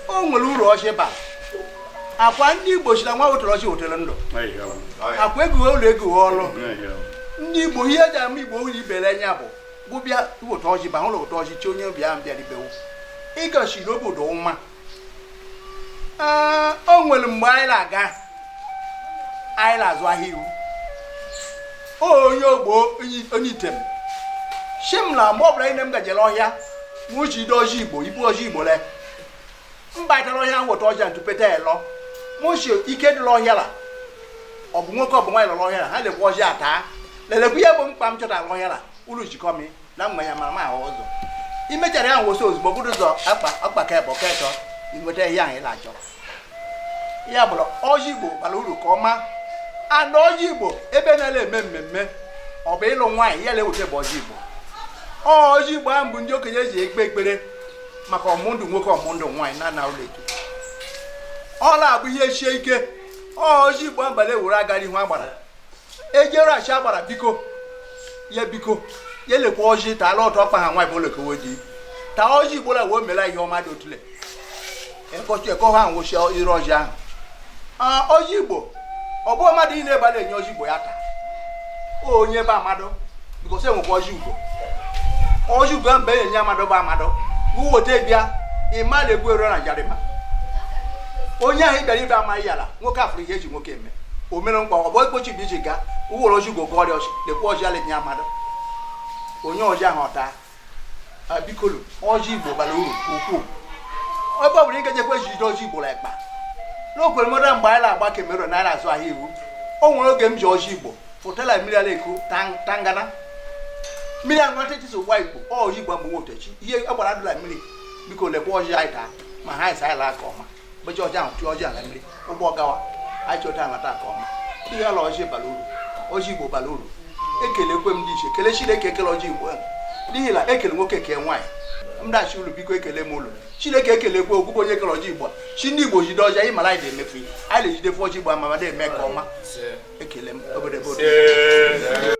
o nwere uru ọjị bara akwa ndị igbo sị na onye wetara ọjị wetara ndụ akwa eguwe ụlọ eguwe ọrụ ndị igbo ihe eji ama igbo ụlọ ibere anya bụ gị bịa weta ọjị ba hụrụ weta ọjị chee onye ọbịa ahụ bịara ibewu ịgachiri obodo nwa o nwere mgbe anyị na-aga anyị na-azụ ahịa iwu onye ogbo onye item shị m na mgbe ọbụla nne m gaje la ọhịa mụ jide ọjị igbo ibu ọjị igbo la m bata la ọhịa m weta ọjị ntụpeta elọ mụ sị ike dị la ọhịa la ọ bụ nwoke ọ bụ nwaanyị lọrọ ọhịa la ha lekwa ọjị ata lelekwa ihe bụ mkpa m chọtara ọhịa la ụlọ jikọ m na mma ya mara ma ahụ ụzọ imechara ya nwụsị ozugbo bụrụ ụzọ akpa ka ebe ọka ịchọ inweta ihe ahụ ị na-achọ ya bụrụ ọjị igbo bara uru ka ọma ana ọjị igbo ebe na-ele eme mmemme ọ bụ ịlụ nwaanyị ihe a na-eweta bụ ọjị igbo ọjị igbo ahụ bụ ndị okenye ji ekpe ekpere maka ọ bụ ndụ nwoke ọ bụ ndụ nwaanyị na na ụlọ eke ọ la-abụ ihe sie ike ọjị igbo abalị ewere agara ihu agbara e jere shị agbara biko ya biko ya lekwa ọjị ta ala ọtọ ọkpa ha nwa bụ olekowo di ta ọjị igbo la wee mela ihe ọma dị otule ekọchi ekọ ha nwụchi ire ọjị ahụ Ah, ọjị igbo ọ bụ mmadụ ị na-ebala enye ọjị igbo ya taa o onye ebe mmadụ bikọsi enwekwa ọjị igbo ọjị igbo mgbe enye mmadụ bụ mmadụ uweta bịa ịma na-egbu eru na njarịma onye ahụ ị bịara ibe amaghị ala nwoke afụrụ ihe eji nwoke eme o mere nkwa ọ bụ ekpochi bụ iji gaa ị were ọjị igbo ọrịa ọ sị lekwa ọjị a la-enye mmadụ o nye ọjị ahụ ọ taa biko nụ ọjị igbo bara uru nke ukwuu ebe ọ bụla ị gajekwa ejide ọjị igbo ekpa n'okwere mmadụ mgbe anyị na-agba kamerun na anyị na-azụ ahịa iwu o nwere oge m ji ọjị igbo fụta la mmiri a la-eku tangana mmiri ahụ nwata etiti ụwa igbo ọjị igbo mgbe m wete shị ihe agbara dị la mmiri biko lekwa ọjị anyị taa ma ha ịsa anyị laa ka ọma mgbe e ji ọjị ahụ tụọ ọjị a la mmiri ụgbọ gawa anyị chọta ala taa ka ọma ihe ala ọjị bara uru ọjị igbo bara uru ekelekwe m ndị ichie kele chineke ekele ọjị igbo ahụ n'ihi na ekele nwoke kee nwaanyị mdachi ụlọ biko ekele m ụnụ chineke ekelekwe okwukwe onye kere ọjị igbo sị ndị igbo jide ọjị ịmara anyị na-emefu ihe anyị na-ejidefu ọjị igbo amama na-eme ka ọma ekele m obodo ebe